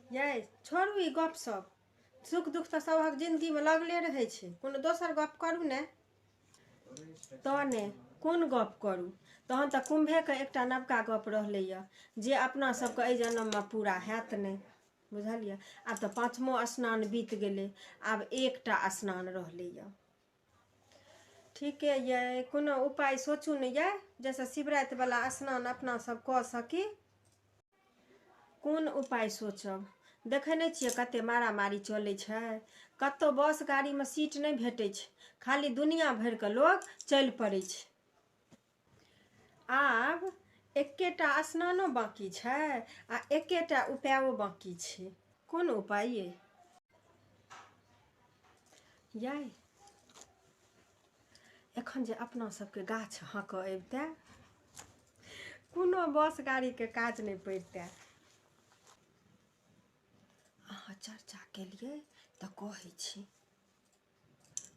यै छोड़ू ई गपसभ सुख दुख तऽ सभक जिन्दगीमे लगले रहै छै कोनो दोसर गप करू ने तहने कोन गप करू तहन तऽ कुम्भेके एकटा नवका गप रहलैए जे अपना सभके एहि जन्ममे पूरा हैत नहि बुझलियै आब तऽ पाँचमो स्नान बीत गेलै आब एकटा स्नान रहलैए ठीके यइ कोनो उपाय सोचू ने यइ जैसे शिवराति वाला स्नान अपना सब कऽ सकी कोन उपाय सोचब देखै नहि छियै कते मारा मारी चलै छै कतौ बस गाड़ीमे सीट नहि भेटै छै खाली दुनिया भरिके लोग चलि पड़ै छै आब एकेटा स्नानो बाँकी छै आ एकेटा उपायो बाँकी छै कोन उपाय ये याय एखन जे अपना सबके गाछ हाँकऽ अबिते कोनो बस गाड़ीके काज नहि पड़िते अहाँ चर्चा केलिए तऽ कहै छी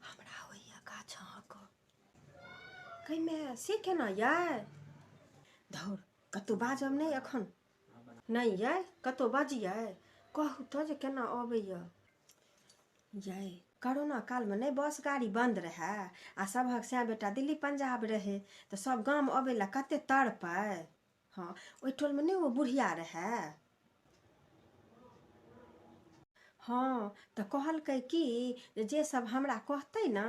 हमरा होइए गाछ अहाँके कैमे से केना यऽ धौर कतहु बाजब नहि एखन नहि यऽ कतहु बजियै कहू तऽ जे केना अबैए यै करोना कालमे नहि बस गाड़ी बन्द रहए आ सभक सएह बेटा दिल्ली पंजाब रहै तऽ सभ गाम अबै लए कतेक तड़पै हँ ओहि टोलमे नहि ओ बुढ़िया रहए हँ तऽ कहलकै कि जे जे सब हमरा कहतै ने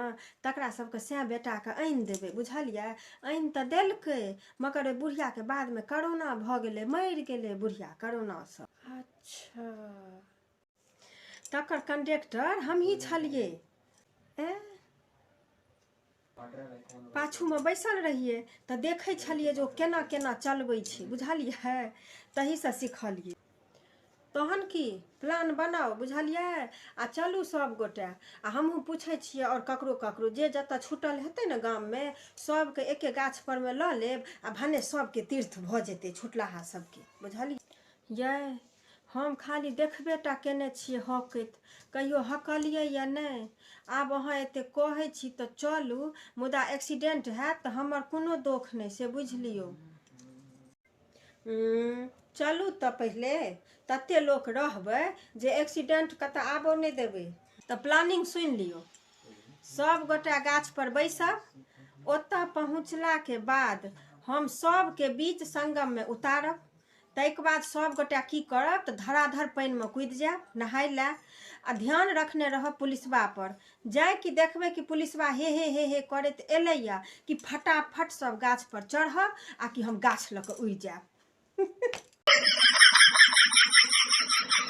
तकरा सबके सएह बेटाके आनि देबै बुझलियै आनि तऽ देलकै मगर ओहि बुढ़ियाके बादमे करोना भऽ गेलै मरि गेलै बुढ़िया करोनासँ अच्छा तकर कंडक्टर हमही छलियै एँ पाछूमे बैसल रहियै तऽ देखै छलियै जे ओ केना केना चलबै छै बुझलियै तहीसँ सिखलियै तहन की प्लान बनाउ बुझलियै आ चलू सभगोटे आ हमहूँ पूछै छियै आओर ककरो ककरो जे जतऽ छूटल हेतै ने गाममे सभके एके गाछ परमे लऽ लेब आ भने सभके तीर्थ भऽ जेतै छुटलाहा सभके बुझलियै यै हम खाली देखबे टा केने छियै हँकैत कहियो हँकलियै या नहि आब अहाँ एते कहै छी तऽ चलू मुदा एक्सीडेंट हैत तऽ हमर कोनो दोख नहि से बुझि लियौ चलू तऽ पहिले तते लोक रहबै जे एक्सीडेंट के तऽ आबो नहि देबै तऽ प्लानिंग सुनि लियौ सब गोटा गाछ पर बैसब ओतऽ पहुँचला के बाद हम सबके बीच संगम में उतारब ताहिके बाद सब गोटा की करब तऽ धराधर पानिमे कुदि जायब नहाय लए आ ध्यान रखने रहब पुलिसबा पर जाय कि देखबै कि पुलिसबा हे हे हे हे करैत एलैया कि फटाफट सब गाछ पर चढ़ब आ कि हम गाछ लऽ कऽ उड़ि जायब